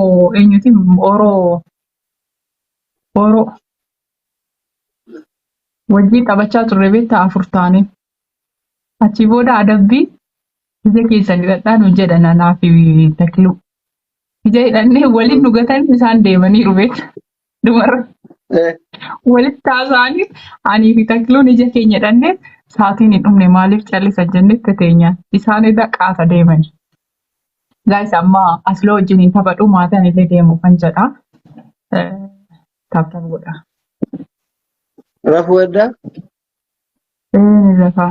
Oh, eenyuti oro oro wajjin taphachaa turre beektaa afur taane achi booda adabbii ija keessan hidhadhaan hojjedha nanaa fi takluu ija hidhannee waliin dhugatan isaan deemaniiru beekta Dubarra Eh, walitti haasa'anii anii fi takluun ija keenya dhannee saatiin hin dhumne maaliif callisan jennee itti teenyaan. Isaan irra qaata deemani. Gaayis amma asloo wajjin hin taphadhu maataan illee deemu kan jedha. Taaptaan godha. Rafu adda. Inni lafa.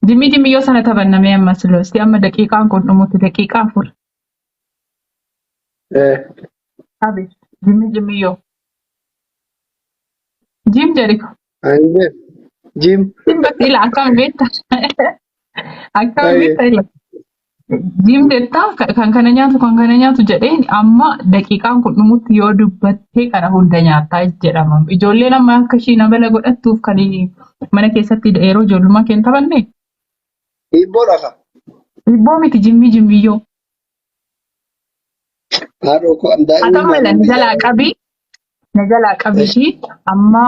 Dimmi dimmi yoo sana taphannamee amma asloo. Isti amma daqiiqaan kun dhumutti daqiiqaa afur. Eh, Abi. Jimmi jimmi yoo. Jim jedhi. ani beeku. Jim. Jim bakka ila akkam beekta. Akkam Aye. beekta ila. Jim jettaa ka- kan kana nyaatu kan kana nyaatu jedheen amma daqiiqaan kun dhumutti yoo dubbattee kana hunda nyaattaa jedhama. Ijoolleen amma akka ishii namala godhattuuf kan mana keessatti yeroo ijoollummaa kee hin taphanne Hiibboo dhafa. Hiibboo miti jimmii jimmiyyoo. Haadhoo koo an daa'imummaa Atamma ila na jalaa qabi. Na jalaa qabi ishii amma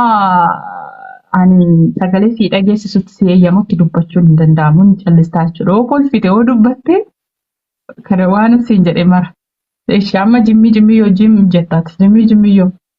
ani sagalee sii dhageessisutti si eeyyamutti dubbachuun hin danda'amu hin callistaa jechuudha. Yoo kolfite yoo dubbatte kana waan siin jedhe mara. Eshi amma jimmii jimmii yoo jim jettaati jimmii jimmii yoo.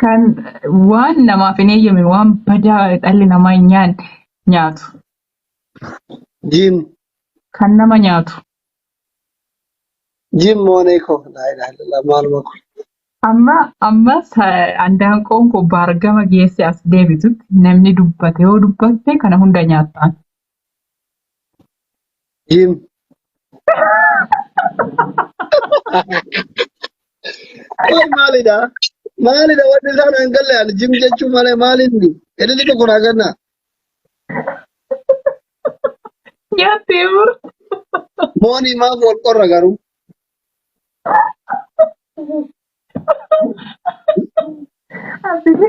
Kan waan namaaf hin eeyyamne waan badaa dhalli namaa hin nyaanne nyaatu. Jiim Kan nama nyaatu. jiim moonee koo laa ilaaha illallah maaluma kun. Amma amma sa- andaanqoon koo baargama geesse as deebitutti namni dubbate yoo dubbatte kana hunda nyaattaan. Jim. Qoy maalidha? Maalidha wanti isaan hin galle ani jim jechuu malee maalinni? Editi tokko naa kenna. Yaattee bur. Moonii maaf wal qorra garuu? Asii.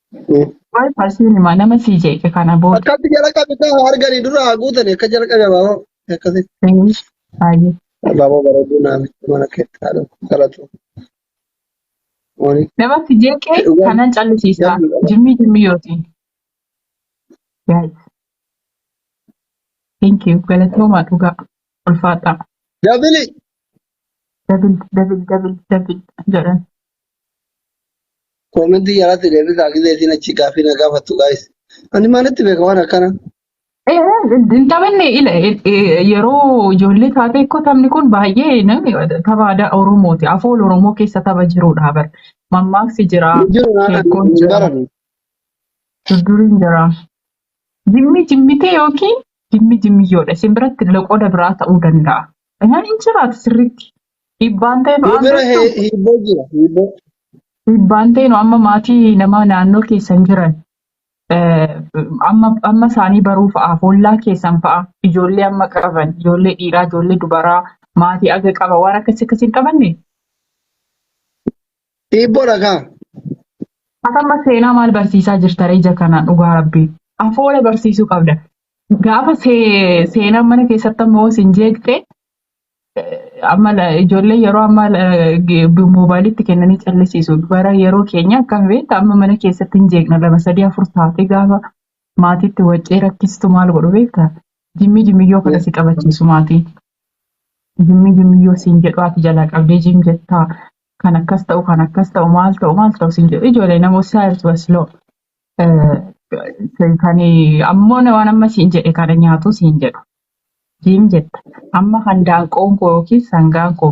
Eh, Waa'ee faarsiin himaa nama sii jeeqe kana booda. Akkatti jalaqabe kaa arganii dura haa guutanii akka jalaqabe abaaboo akkasii. Eeyyee. Baay'ee. Abaaboo bareeduu naamicha mana keetti haadha galatu. Wani Nama sii jeeqe dhugaa kanan callisiisaa. jabdu qaba. Jimmii jimmii yootiin. Yaa'ii. Thank you. Galatoomaa dhugaa. Ulfaadhaa. Dabili Dabil dabil dabil dabil jedhan. Koomentii jalatti deebisaa gisee isiin achi gaaffii na gaafattu gaayis. Ani maalitti beeka waan akkana? Eh, Hin taphanne ila eh, eh, yeroo ijoollee taatee koo taphni kun baay'ee na- tapha aadaa Oromooti. Afoola Oromoo keessa tapha jirudha bar. Mammaaksi jira, Hin jiru naan sheekkoon hin jira, baranu. durduriin jira. Jimmi jimmitee yookiin jimmi jimmiyyoodha. Isin biratti loqoda biraa ta'uu danda'a. Isaan hin jiraatu sirriitti. Dhiibbaan ta'e nu Yoo bira aangochuu he- hiibboo jira hiibboo. dhiibbaan ta'e nu amma maatii nama naannoo keessan jiran eh, amma amma isaanii baruu fa'aa hollaa keessan fa'aa ijoollee amma qaban ijoollee dhiiraa ijoollee dubaraa maatii aga qaba waan akkasii akkasii hin qabanne Hiibboodha kaa. Ati amma seenaa maal barsiisaa jirta reeja kana dhugaa rabbii afoola barsiisuu qabda gaafa see- seenaan mana keessatti amma hoos hin jeeqxe amma la- ijoollee yeroo ammaa la- ge- bu- moobaayilitti kennanii callisiisu. Bara yeroo keenya akkam beekta amma mana keessatti hin jeeqna lama sadii afur taatee gaafa maatiitti waccee rakkistu maal godhu beekta? Jimmii jimmiyyoo kana si qabachiisu maatiin. Jimmii jimmiyyoo siin jedhu ati jalaa qabdee jim jettaa kan akkas ta'u kan akkas ta'u maal ta'u maal ta'u siin jedhu ijoollee nama saayiltu wasiloo. Eh, Kan ammoo na- waan amma siin jedhe kana nyaatu siin jedhu. Jiim jetta. Amma kan daanqoon koo yookiin sangaan koo